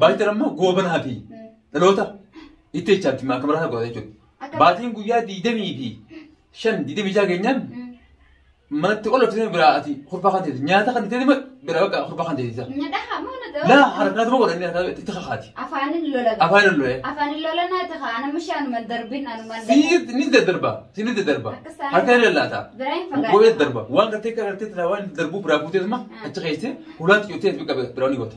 Baatiin ammoo goobanaa fi dhaloota itti jechaatti maaka maraa godhata jechuudha. Akka- Baatiin guyyaa digdamii fi shan digdamii jaha keenyaan manatti ol ofisee biraa ati kurfaa kan teeti nyaata kan teeti biraa bakka kurfaa kan teetisa. Nyadhaha moo na Laa ta'u? harkaatu moo godhanii harkaa itti kakaati. Afaanin lola. Afaan illee. Afaanin lola naa ta'a. Ana mishaa anuman darbin anuman Siinitti ni daddarba. Siinitti daddarba. Akka isaan- Harka ni lallaata. Biraa hin fagaatu. Gogolee daddarba. Waan gartee gartee tana waan darbuu biraa fuutee suma achi keessee hulaatti yoo ta'e biraa ni goota.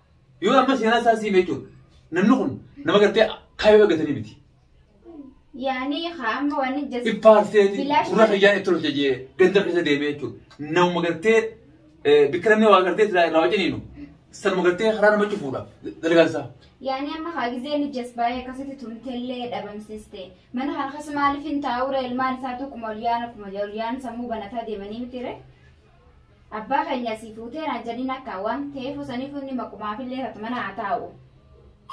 Yoo amma seenaa isaa siime jechuudha. Namni kun nama gartee kaayoo eegatanii miti. Yaani haa amma waan hin jasne. Iffaarsee Bilaash gurra fayyaan itti tolcha jee ganda keessa deemee jechuudha. Nama gartee bikka namni waa gartee silaa irraa wajjiniinu sanuma gartee karaa nama cufuudha dalagaan isaa. Yaani amma haa gizee ni jasbaayee akkasitti tumtellee dhabamsiste. Mana kana keessa maaliif hin taa'u reel maal isaatu kuma ol yaana kuma ol yaana sammuu banataa deemanii miti ree. Abbaa keenya sii fuutee naan jedhin akka waan teefu sanifu inni maqumaafillee tatu mana haa taa'u.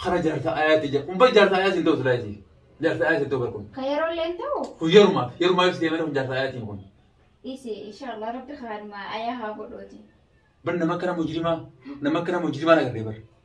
Kana jaarsa ayaati jedha. Kun bar jaarsa ayaati hin ta'u silaa isii. Jaarsa ayaati hin ta'u bar kun. Ka yeroolleen ta'u Kun yerumaaf yerumaaf ibsitee malee kun jaarsa ayaatiin kun. dhiisi inshaallah rabbi kaanuma ayaa haa godhuuti. Bar nama akkana mujrimaa nama akkana mujrimaa agarree bar.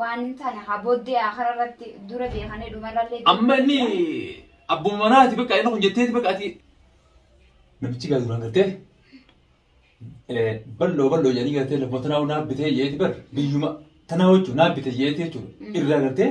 Waan tana haa booddee akara irratti dura beekanii dhumarrallee. Amma inni abbuma manaati bakka inni kun jetteeti bakka ati namichi gaa duraan gartee bal'oo bal'oo jedhanii gartee lafa tanaa naa bitee jeeti bar biyyuma tanaa jechuun naa bitee jeeti jechuudha irraa gartee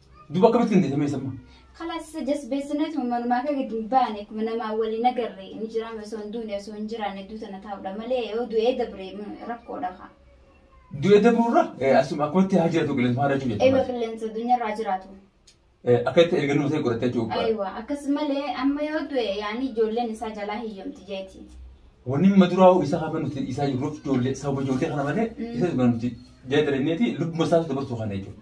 Duba akkamitti hin deemee samma? Kalaas isa jasbeessinetu manumaa kee gadi hin baane akkuma namaa waliin agarre inni jiraame osoo hin duune osoo hin jiraanne duuta na taa'udha malee yoo du'ee dabre rakkoodha kaa. Du'ee dabrurra asuma akkumatti haa jiraatu qilleensa haala jechuudha. Eewa qilleensa addunyaarraa jiraatu. Akka itti erga nama ta'e godhatee jechuudha. Eewa akkas malee amma yoo du'e yaani ijoolleen isaa jalaa hiyyomti jeeti. Wanni amma duraa isaa hafa nuti isaa jiruuf ijoollee sababa ijoollee kana malee isa dhugaa nuti jaalataniiti lubbuma isaas dabarsuu kana jechuudha.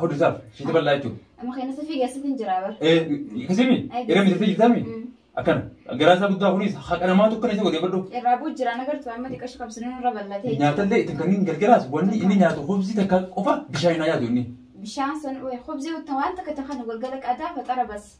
Hawdisaaf shiita bal'aa jechuudha. Amma keenya safii keessatti hin jiraa bara. Kasimi Ay, irra miidhagsee jirtaami. Mm. Akkana garaa isaa guddaa kunis haqa namaatu akkana isa godhee badhu. Irraa bu'u jiraan agartu amma xiqqashu qabsanii irra bal'atee. Nyaatallee ittiin kanneen gargaraas wanni inni nyaatu hubsi takka qofa bishaan hin nyaatu inni. Bishaan san hubzii wanta waan takka takka galgala qadaa faxara bas.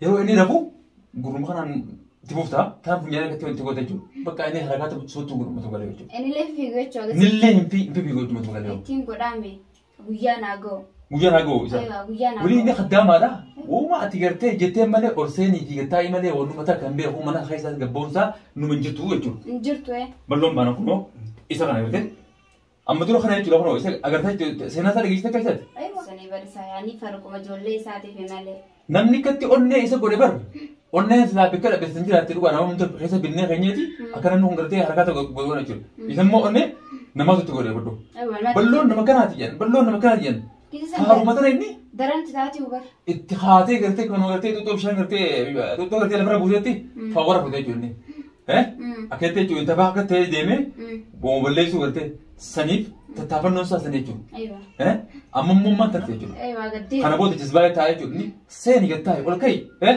Yeroo inni rafu gurruma kanaan itti bufta. Taan funyaan irratti wanti goota jechuudha. Bakka inni harakaata sochootu gurrumatu galee jechuudha. Inilee fiiguu jechuu agarsiisa. Nillee hin fi hin fi fiiguu jechuudha galee. Ittiin godhaame guyyaa naa ga'u. Guyyaa naa ga'u isa. Aywa guyyaa naa Wani inni ga'u. kaddaamaadha. Uuma ati gartee jettee malee ol seenii fi gattaa malee wannuma takka hin beeku mana keessaa gabboomsaa numa hin jirtu jechuudha. Hin jirtu ee. Balloon baana kunoo isa kana gartee. Amma dura kana jechuudha kunoo isa agartee jechuudha seenaa isaa dhageessite akka isaati. Aywa. Sanii barisaa yaanii farquma ijoollee isaatiif malee. Namni akkatti onnee isa godhe bar onnee silaa bakka dhabeessan jiraatte dhugaa nama hundee keessa binnee keenyeeti akka namni kun gartee harkaa tokko godhana jechuudha. Isa immoo onnee namatu itti godhe boddoo. Aywa. Balloon nama kanaati jedhan balloon nama kanaati jedhan Haaruma ture inni Daran titaati hubar. itti haatee gartee kan gartee xuxxoo bishaan gartee xuxxoo gartee lafarra buusetti fawwara fute jechuun eh akkatti jechuun inta baha akka ta'ee deemee booma balleessuu gartee saniif tattaafannoon isaa sanii jechuun Aywa. eh amma immoo maal tarte jechuudha Aywa gaddee. kana booda jazbaa'ee taa'ee jechuun seeni gad taa'e ol ka'i eh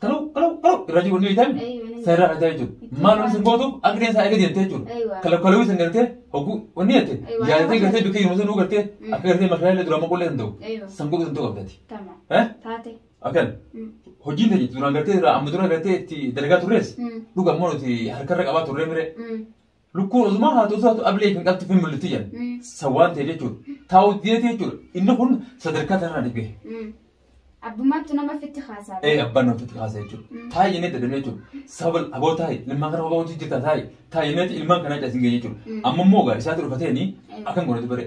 Kalau kalau kalau irraa jiru wanni ta'an seeraan ajaa jechuudha. Maal wanni sin gootuuf akka ta'e isaa eega deemtee jechuudha. Kalau kalau isin gartee hogguu wanni jettee yaadtee gartee bikka yeroo sanuu gartee akka gartee mashaalee duraa maqullee hin ta'u. San godhu hin ta'u abdati. Eh? Akkan hojiin ta'e duraan gartee irraa amma dura gartee itti dalagaa turrees dhuga ammoo nuti harkarra qabaa turree miree. Lukkuun osuma haatu osoo haatu ablee kan qabtu fi mul'atti jedhan. Mm. San waan ta'e jechuudha. Taa'u deetii jechuudha. Inni kun sadarkaa kanarraa ni gahe. Mm. Abbummaattu nama fitti haasaa. Ee abbaan nama fitti haasaa jechuudha. Mm. Taa'e jennee dadhabnee jechuudha. Sababa aboo taa'e ilmaan kana aboo hojii jirta taa'e taa'e jennee ilmaan kanaa caasin gahee jechuudha. Mm. Amma immoo gaa isaatu dhufateeni Eh. akkan godhatu bare.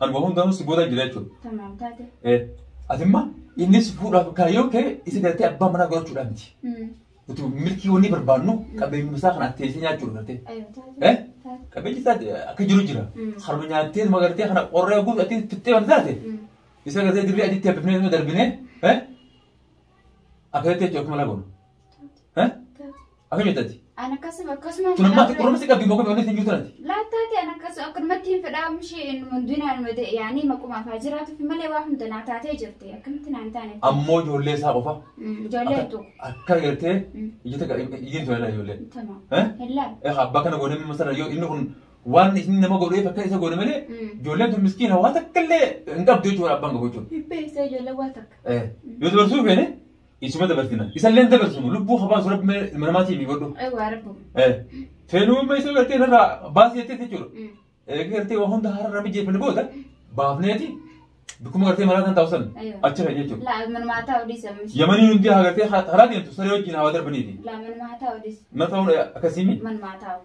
Anuma hundanuu si booda jira jechuudha. Tamam taate. Eh, Atimma inni si fuudhaaf kaayyoo kee isa galtee abbaa manaa godhachuudhaan miti. Mm. Nuti milkii wanni barbaannu qabeenyuma isaa kana teessee nyaachuudha galtee. Aywa taate. Eh? Taate. Qabeenyi isaa akka jiru jira. Mm. Harma nyaattee magartee kana qorree guutu ati fixxee waan taate. Mm. Isa galtee dirree adiitti habbifnee nama darbinee. Eh? Akkasitti jechuudha akkuma lagoon. Eh? Taate. Akka jettati. An akkasuma akkasuma. Kunummaatti kunummaatti qabdi immoo kunummaatti hin jirtu nati. Laattaati an akkasuma akkanumatti hin fedhaa mishee inni hundinaan mate yaanii maquma afaa jiraatuuf malee waa hunda naa taatee jirti akkamitti naan taane. Ammoo ijoollee isaa qofa. Ijoollee tu. Akka gartee ija takka ijin ture laa ijoollee. Tama. Eh? Hellaa. Eh abbaa kana goonee masala yoo inni kun waan inni nama godheef akka isa goone malee ijoolleen tun miskiina waa takka illee hin qabdu jechuudha abbaan qabu jechuudha. Beeksisa ijoollee waa takka. Eh yoo dabarsuu feene isuma dabarsina isalleen dabarsinu lubbuu habaasu rabbi mee ilma namaatii mi godhu Ay waa rabbu. Eh, feenuu amma isa gartee irraa baasii jettee jechuudha eega gartee waa hunda har'a rabbi jeefani booda baafneeti bikkuma gartee maraa kan taa'u san Aywa. achi kan jechuudha Laa manumaa haa taa'u dhiisa. yamanii hundi haa gartee karaa deemtu saree wajjin haa darbaniiti Laa manumaa haa taa'u dhiisa. na ta'uun akkasiimi Manumaa haa taa'u.